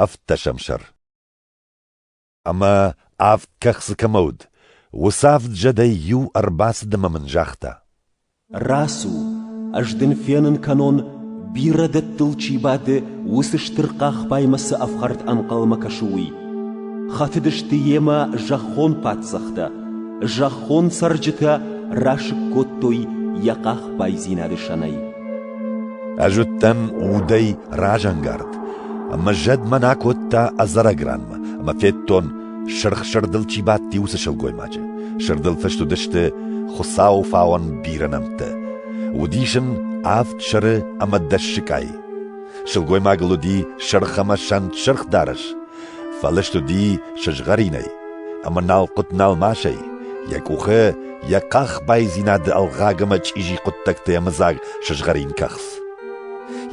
Ӕвддӕсӕм сӕр Ӕмӕ авд кӕхцы кӕмӕ уыд, уыцы авд зӕдӕй иу ӕрбацыд ӕмӕ мын загъта: Рацу, ӕз дын фенын кӕнон, бирӕ дӕттыл чи бады, уыцы стыр хъахбаймӕ цы ӕфхӕрд ӕнхъӕлмӕ кӕсы, уый. Хатыдысты йемӕ зӕххон паддзӕхтӕ, зӕххон цӕрджытӕ расыг кодтой йӕ хъахбайдзинады сӕнӕй. Ӕз уыдтӕн удӕй разӕнгард. Ӕмӕ зӕд мӕн акодта ӕдзӕрӕг ранмӕ, ӕмӕ федтон, сырх сырдыл чи бадти, уыцы сылгоймаджы. Сырдыл фыст уыдысты Хуыцауы фауӕн бирӕ нӕмттӕ. Уыдис ын авд сыры ӕмӕ дӕс сыкъайы. Сылгоймагыл уыди сырх ӕмӕ сӕнт сырх дарӕс, фӕлыст уыди сызгъӕринӕй ӕмӕ налхъуыт-налмасӕй, йӕ къухы йӕ къах байдзинады ӕлгъаг ӕмӕ чъизи хъуыддӕгтӕй ӕмыдзаг сызгъӕрин кӕхц.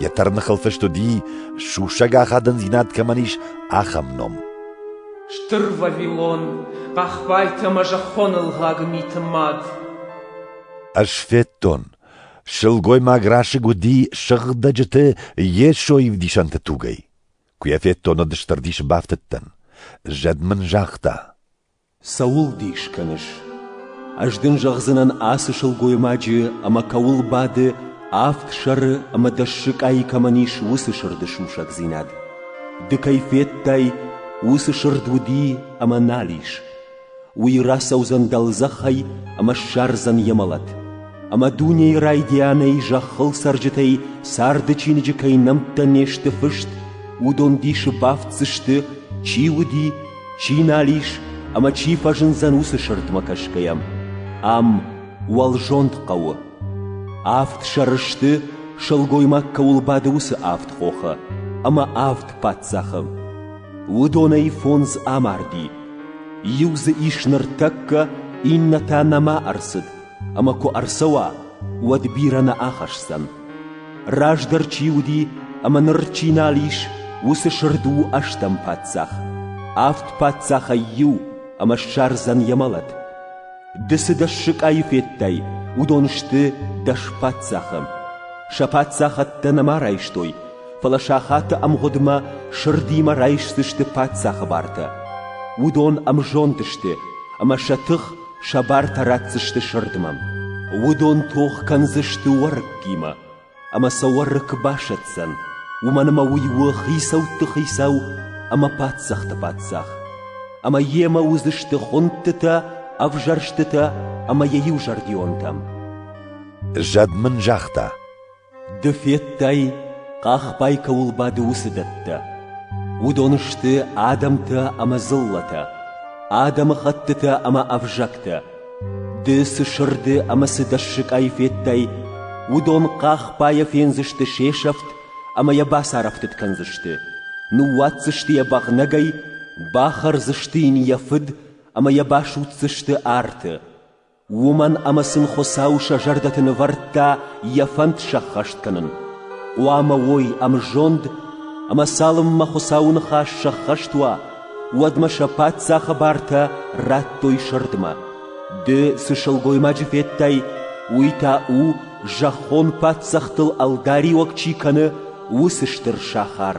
Йӕ тӕрныхыл фыст уыди, сусӕг ахадындзинад кӕмӕн ис, ахӕм ном. Стыр Вавилон, хъахбайты ӕмӕ зӕххоны лгъаг миты мад. Ӕз федтон, сылгоймаг расыг уыди сыгъдӕджыты Йесо ӕвдисӕнты тугӕй. Куы йӕ федтон, уӕд стыр дисы бафтыдтӕн. Зӕд мын загъта: Цӕуыл дис кӕныс? Ӕз дын зӕгъдзынӕн ацы сылгоймаджы ӕмӕ кӕуыл бады, авд сӕры ӕмӕ дӕс сыкъайы кӕмӕн ис, уыцы сырды сусӕгдзинад. Ды кӕй федтай, уыцы сырд уыди ӕмӕ нал ис. Уый рацӕудзӕн дӕлдзӕхӕй ӕмӕ ссардзӕн йӕ мӕлӕт. Ӕмӕ дунейы райдианӕй зӕххыл цӕрджытӕй царды чиныджы кӕй нӕмттӕ не сты фыст, уыдон дисы бафтдзысты, чи уыди Чи нал ис ӕмӕ чи фӕзындзӕн уыцы сырдмӕ кӕсгӕйӕ, ам уӕлзонд хъӕуы. Авд сӕры сты, сылгоймаг кӕуыл бады, уыцы авд хохы ӕмӕ авд паддзахы. Уыдонӕй фондз амарди. Иу дзы ис ныртӕккӕ, иннӕ та нӕма ӕрцыд, ӕмӕ куы ӕрцӕуа, уӕд бирӕ нӕ ахӕсдзӕн. Раздӕр чи уыди ӕмӕ ныр чи нал ис, уыцы сырд у ӕстӕм паддзах. Авд паддзахӕй иу ӕмӕ ссардзӕн йӕ мӕлӕт. Ды цы дӕс сыкъайы федтай, уыдон сты дӕс паддзахы. Сӕ паддзахадтӕ нӕма райстой, фӕлӕ сахаты ӕмгъуыдмӕ сырдимӕ райсдзысты паддзахы бартӕ. Уыдон ӕмзонд сты, ӕмӕ сӕ тых Сӕ бартӕ ратдзысты сырдмӕ, уыдон тох кӕндзысты уӕрыккимӕ, ӕмӕ сӕ уӕрыкк басӕтдзӕн, уымӕн ӕмӕ уый у хицӕутты хицау ӕмӕ паддзахты паддзах, ӕмӕ йемӕ уыдзысты хуындтытӕ, ӕвзӕрстытӕ ӕмӕ йӕ иузӕрдионтӕ. Зӕд мын загъта: Ды федтай, хъахбай кӕуыл бады уыцы дӕттӕ. Уыдон сты адӕмтӕ ӕмӕ дзыллӕтӕ, адӕмыхӕттытӕ ӕмӕ ӕвзӕгтӕ. Ды цы сырды ӕмӕ цы дӕссыгӕй федтай, уыдон хъахбайӕ фендзысты се сӕфт ӕмӕ йӕ бацарӕфтыд кӕндзысты. Ныууадздзысты йӕ бӕгънӕгӕй, бахӕрдзысты йын йӕ фыд ӕмӕ йӕ басудздзысты арты. Уымӕн ӕмӕ сын Хуыцау сӕ зӕрдӕты нывӕрдта йӕ фӕнд сӕххӕст кӕнын. Хъуамӕ уой ӕмзонд, ӕмӕ цалынмӕ Хуыцауы ныхас сӕххӕст уа, уӕдмӕ сӕ паддзахы бартӕ радтой сырдмӕ. Ды цы сылгоймаджы федтай, уый та у, зӕххон паддзӕхтыл ӕлдариуӕг чи кӕны, уыцы стыр сахар.